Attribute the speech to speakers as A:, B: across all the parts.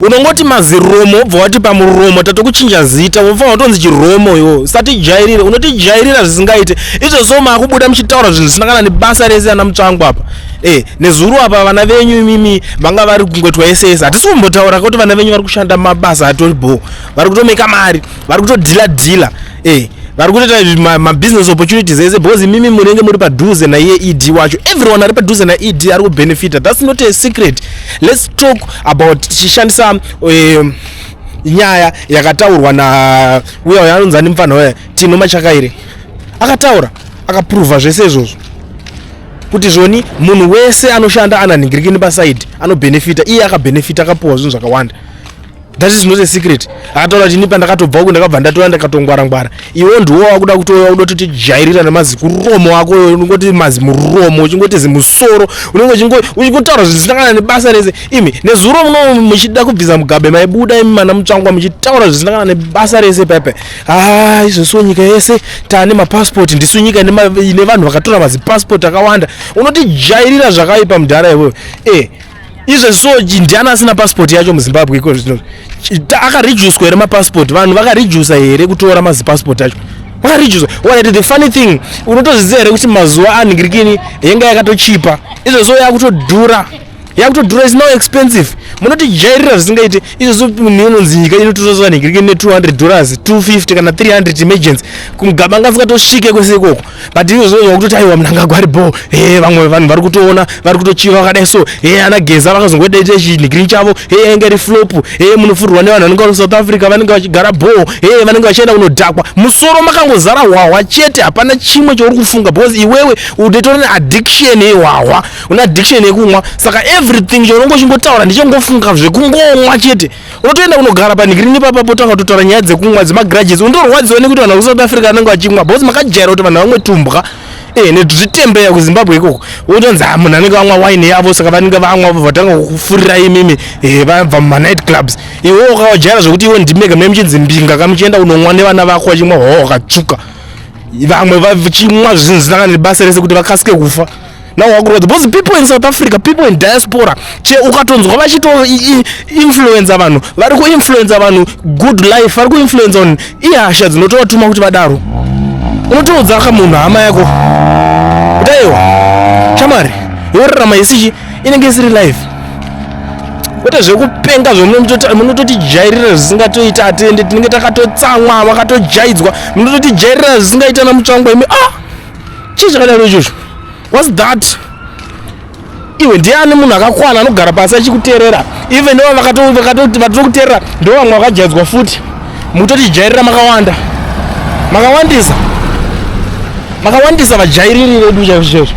A: Unongoti maziromo wobva wati pamuromo tatokuchinja zita wofanira kutonzi chiromo iwo usatijairire unotijairira zvisingaite izvo so maakubuda muchitaura zvinhu zvisina kana nebasa rese ana mutsvangu apa e nezuru apa vana venyu imimi vanga vari kungoitwa ese ese hatisi kumbotaura kuti vana venyu vari kushanda mabasa atori bho vari kutomeka mari vari kutodhila dhila eh vari kutoita mabusiness opportunities ese because imimi munenge muri padhuze naiye ed wacho everyone ari padhuze naed ari kubenefita thats not a secret let's talk about tichishandisa um, nyaya yakataurwa na uya uya anonzi ani mupfanha uya tino machakairi akataura akapruvha zvese izvozvo kuti zvoni munhu wese anoshanda ananhingiriki nepasaidi anobenefita iye akabenefita akapuwa zvinhu zvakawanda that is not a secret akataura kuti ini pandakatobva uku ndakabva ndatouya ndakatongwara ngwara iwo ndiwo wakuda kutouya uda kuti tijairira nemazi kuromo wako uyo unongoti mazi muromo uchingoti zimusoro unenge uchingotaura zvisinakana nebasa rese imi nezuro muno muchida kubvisa mugabe maibuda imi mana mutsvangwa muchitaura zvisinakana nebasa rese pepe haa ah, izvosiwo nyika yese tane mapasipoti ndisu nyika ine vanhu vakatora mazipasipoti akawanda unotijairira zvakaipa mudhara ivoyo e eh, izvo so ndiani asina passport yacho muzimbabwe iko zvino akareducwa here mapassport vanhu vakareduca here kutora mazipassport acho vakareducwa wanati the funny thing unotozviziva here kuti mazuva anhingirikini yenga yakatochipa izvo so yakutodhura yakutodhura is no expensive munotijairira zvisingaite izvo so munhu inonzi nyika inototoza vanhingirikini ne 200 dollars 250 kana 300 emergency mugaba ngasikatosvike kwese ikoko but iwe zvinonzwa kutoti aiwa mnangagwa ari bho e vamwe vanhu vari kutoona vari kutochiva vakadai so e ana geza vakazongodaita chinhigiri chavo e ainge ri flop e munofurwa nevanhu vanenge vari south africa vanenge vachigara bho e vanenge vachienda kunodhakwa musoro makangozara hwahwa chete hapana chimwe chouri kufunga because iwewe udetora neaddiction yehwahwa une addiction yekumwa saka everything chounonge uchingotaura ndichangofunga zvekungomwa chete unotoenda kunogara panhikirini ipapa potanga kutotaura nyaya dzekumwa dzemagrudges unotorwadziwa nekuti vanhu vekusouth africa vanenge vachimwa bcause makajaira kuti vanhu vamwe tumbwa eh, nezvitembeya kuzimbabwe ikoko wotonzi ah, munhu anenge vamwa wine yavo saka vanenge vamwa vatanga kufurira imimi eh, vabva mumanight clubs iwe wakawajaira zvekuti iwe ndimega mune muchinzi mbinga kamuchienda kunonwa nevana vako vachimwa hwawa wakatsvuka vamwe vachimwa zvinhu zvinanga nebasa rese kuti vakasike kufa now wakurwadza because people in south africa people in diaspora che ukatonzwa vachito influenza vanhu vari kuinfluenza vanhu good life vari kuinfluenza vanhu ihasha dzinotovatuma kuti vadaro unotoudza ka munhu hama yako kutaiwa shamwari yorarama isichi inenge isiri life kwete zvekupenga zvemunototijairira zvisingatoita atende tinenge takatotsamwa vakatojayidzwa munototijairira zvisingaita namutsvangwa imi ah chii chakadaro ichocho whats that iwe ndiani munhu akakwana anogara pasi achikuteerera even ivo vakatiri kuteerera ndo vamwe vakajaidzwa futi mutotijairira makawanda makawandisa makawandisa vajairiri vedu chaizvo chaizvo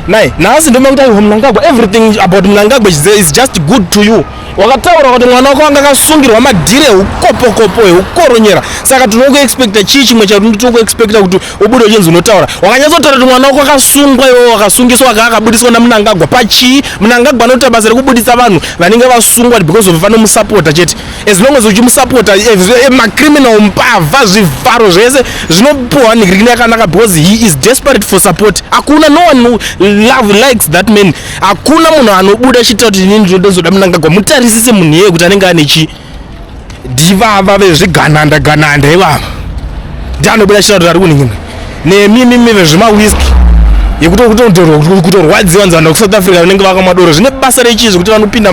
A: nai nhasi ndomakuti aiho mnangagwa everything about mnangagwa is just good to you wakataura kuti mwana wako anga akasungirwa madhiri eukopokopo eukoronyera saka tinokuexpecta chii chimwe chatinotinokuexpecta kuti ubude uchinzi unotaura wakanyatsotaura kuti mwana wako akasungwa iwe wakasungiswa aka akabudiswa namunangagwa pachii munangagwa anoita basa rekubudisa vanhu vanenge vasungwa because of vanomusapota chete as long as uchimusapota eh, eh, macriminal mbavha zvivharo zvese zvinopiwa nigrini yakanaka because he is desperate for support hakuna no one love likes that man hakuna munhu anobuda achitaura kuti inini ndinoda munangagwa mutarisise munhu iyeye kuti anenge ane chii ndivava vezvigananda gananda ivava ndianobuda chirado rari kuningina nemimimi vezvemawiski yekutokutorwadziwa nzana kusouth africa vanenge vakamwa doro zvine basa rechii zvekuti vanopinda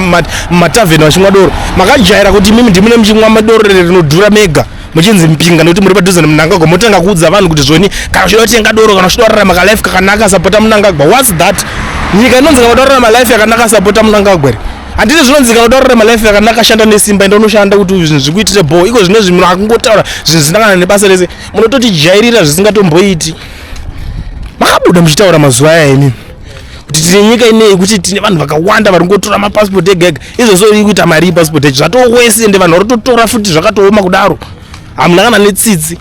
A: mumatavheni vachimwa doro makajaira kuti imimi ndimune muchimwa madoro rinodhura mega muchinzi mpinga nekuti muri padhuze nemunangagwa motanga kuudza vanhu kuti zvoni kana uchida kutenga doro kana uchida kurarama kalife kakanaka sapota munangagwa whats that nyika inonzi kana uda kurarama life yakanaka sapota munangagwa here handiti zvinonzikanwa kuti ararama life yakanaka ashanda nesimba ende unoshanda kuti zvinhu zvikuitire bho iko zvine zvinhu akungotaura zvinhu zvisina kana nebasa rese munototijairira zvisingatomboiti makabuda muchitaura mazuva aya imi kuti tine nyika inei kuti tine vanhu vakawanda vari kungotora mapasipoti ega ega izvozvo iri kuita mari yepasipoti yacho zvatowese ende vanhu vari kutotora futi zvakatooma kudaro hamuna kana netsitsi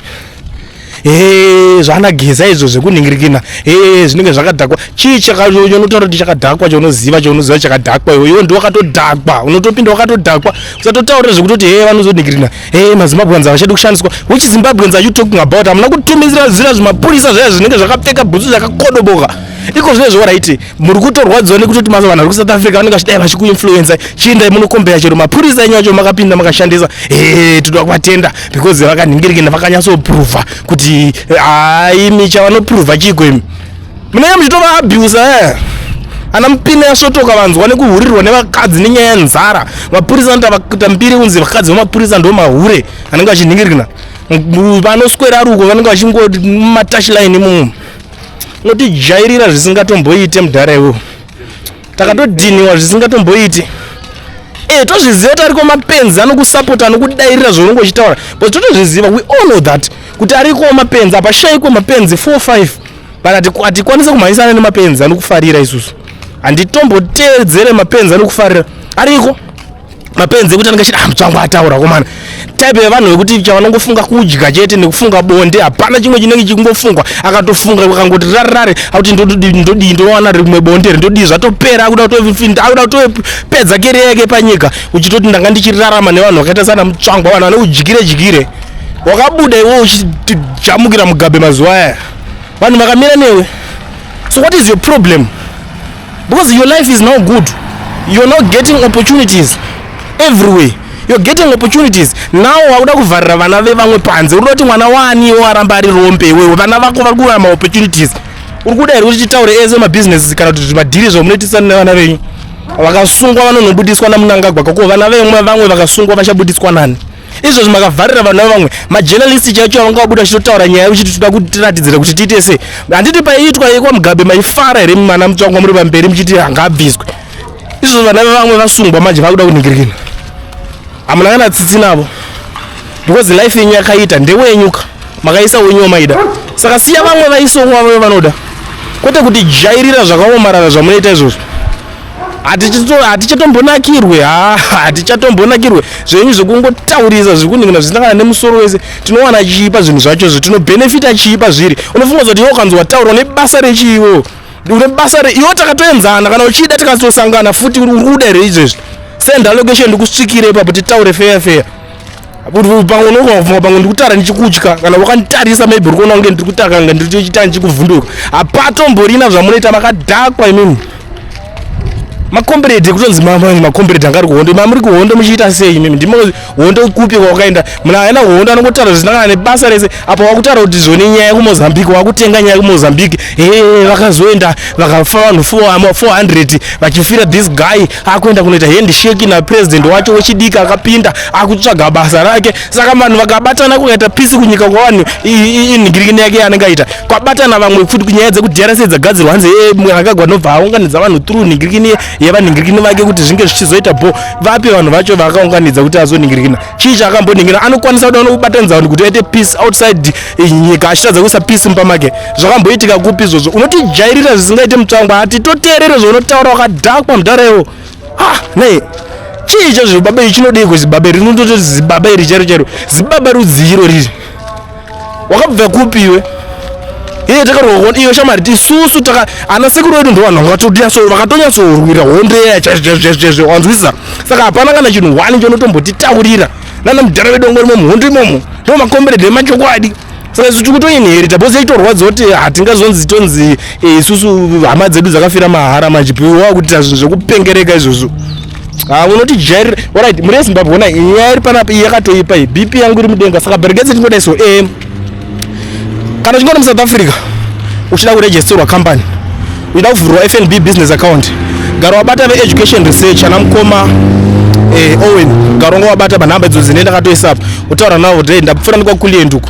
A: ee zvaanageza izvo zvekunhingirikina ee zvinenge zvakadhakwa chii chaunotaura kuti chakadhakwa chaunoziva chaunoziva chakadhakwa iwe iwe ndiwe wakatodhakwa unotopinda wakatodhakwa usatotaurira zvekutoti ee vanozonhingirina ee mazimbabweans havachadi kushandiswa which zimbabweans are you talking about hamuna kutumidzira zira zvimapurisa zvaya zvinenge zvakapfeka bhutsu zvakakodoboka iko zvinezvo waraiti muri kutorwadziwa nekutoti mazuva vanhu vari kusouth africa vanenge vachidai vachikuinfluensa chiindai munokombera chero mapurisa enyu acho makapinda makashandisa ee toda kuvatenda because vakanhingirikina vakanyatsopruvha kuti aimi chavanopruvha chiiko imi munenge muchitovaabhusa e eh? ana mupine yasvotoka vanzwa nekuhurirwa nevakadzi nenyaya yenzara mapurisa anotakuita mbiri kunzi vakadzi vemapurisa ndo mahure anenge vachinhingirikina vanoswera ruko vanenge vachingomatashilaini mumu Unotijairira zvisingatomboite mudhara iwewe. Takatodhiniwa zvisingatomboiti. Eh tozviziva kuti ariko mapenzi anokusapota anokudairira zvaunenge uchitaura. But totozviziva we all know that kuti ariko mapenzi apa shaiko mapenzi 4 5. But atikwanise kumhanyisana nemapenzi anokufarira isusu. Handitomboteedzere mapenzi anokufarira. Ariko mapenzi ekuti anenge achida hamutsi ah, wangu ataura komana type yevanhu vekuti chavanongofunga kudya chete nekufunga bonde hapana chimwe chinenge chikungofungwa akatofunga akangoti rarare akuti ndodii ndowana rimwe bonde ri ndodii zvatopera akuda kutofinda akuda kutopedza keri yake panyika uchitoti ndanga ndichirarama nevanhu vakaita sana mutsvangwa vanhu vane udyire dyire wakabuda iwe uchijamukira mugabe mazuva aya vanhu vakamira newe so what is your problem because your life is now good you're now getting opportunities everywhere you're getting opportunities now wakuda kuvharira vana vevamwe panze urikuda kuti mwana waaniwo aramba ari rombe iwewe vana vako vari kuwana maopportunities uri kuda here kuti titaure ese mabusinesses kana kuti zvimadhiri zvamunoitisa nevana venyu vakasungwa vanonobudiswa namunangagwa kako vana vemwe vamwe vakasungwa vachabudiswa nani izvozvi makavharira vanhu vavamwe majenalisti chaicho avangawabuda chitotaura nyaya uchiti toda kuti tiratidzire kuti tiite sei handiti paiitwa yekwa mugabe maifara here mimana mutsvangwa muri pamberi muchiti hangabviswe izvozvi vana vevamwe vasungwa manje vakuda kuningirikina hamuna kana tsitsi navo because life yenyu yakaita ndewenyuka makaisa wenyu wamaida saka siya vamwe vaisongwa vavo vanoda kwete kuti jairira zvakaomarara zvamunoita izvozvo hatichatombonakirwe hatichatombonakirwe zvenyu zvekungotaurisa zvikuningina zvisangana nemusoro wese tinowana chiipa zvinhu zvacho zvo tinobhenefita chiipa zviri unofunga zoti iwe ukanzi wataura une basa rechiiwo une basa re iwe takatoenzana kana uchida tikatosangana futi uri kuda here izvezvi senda location ndikusvikire ipapo titaure feya feya pamwe unongofunga pamwe ndiri kutaura ndichikutya kana wakanditarisa maybe uri kuona kunge ndiri kutaura kana ndiri kuchita ndichikuvhunduka hapatomborina zvamunoita makadhakwa imimi makomberedi kutonzi makomberedi anga ari kuhondo mamuri kuhondo muchiita sei imimi ndimo hondo kupi kwawakaenda muna aina hondo anongotaura zvisinangana nebasa rese apa wakutaura kuti zvone nyaya kumozambique wakutenga nyaya kumozambique he vakazoenda vakafa vanhu 400 vachifira this guy akuenda kunoita handshake napresident wacho wechidiki akapinda akutsvaga basa rake saka vanhu vakabatana kukaita pisi kunyika kwavanhu inhingirikini yake yanenge aita kwabatana vamwe futi kunyaya dzekuti drc dzagadzirwa hanzi eh, mwanakagwa anobva aunganidza vanhu through nhingirikini yevanhingirikini vake kuti zvinge zvichizoita bho vapi vanhu vacho vaakaunganidza kuti azonhingirikina chii chaakambonhingira anokwanisa kuda unobatanidza vanhu kuti aite peace outside eh, nyika achitadza kuisa peace mumba make zvakamboitika kupi izvozvo unotijairira zvisingaite mutsvangwa hati toteerere zvaunotaura wakadhakwa mudhara iwo ah nei chii icho zvibabe chinodei kuzibaba iri rinototi zibaba iri chairo chairo zibaba rudzii iro riri wakabva kupi iwe iye takaroona iwe shamari tisusu taka ana sekuru vedu ndo vanhu vanga vatotinyaso vakatonyatsorwira hondo iya chaizvezvezvezve wanzwisisa saka hapana kana chinhu wani chonotombotitaurira nana mudhara vedu vangorimo muhondo imomo ndo makomberedhe emachokwadi saka isu tiri kutoinherita bhosi yaitorwadza kuti hatingazonzi tonzi eh, isusu hama dzedu dzakafira mahara manje piwa kutita zvinhu zvekupengereka izvozvo Ah, unoti jair orit muri yezimbabwe ona nyaya iri panapa iyi yakatoipa iyi bp yangu iri mudenga saka bereketse tingoda iso e eh, kana uchingoona musouth africa uchida kuregisterwa company uchida kuvhurwa fnb business account gara wabata veeducation research ana mukoma eh, owen gara unga wabata panhamba idzo dzine ndakatoisa apa utaura navo kuti ndapfuura ndikwakulienduko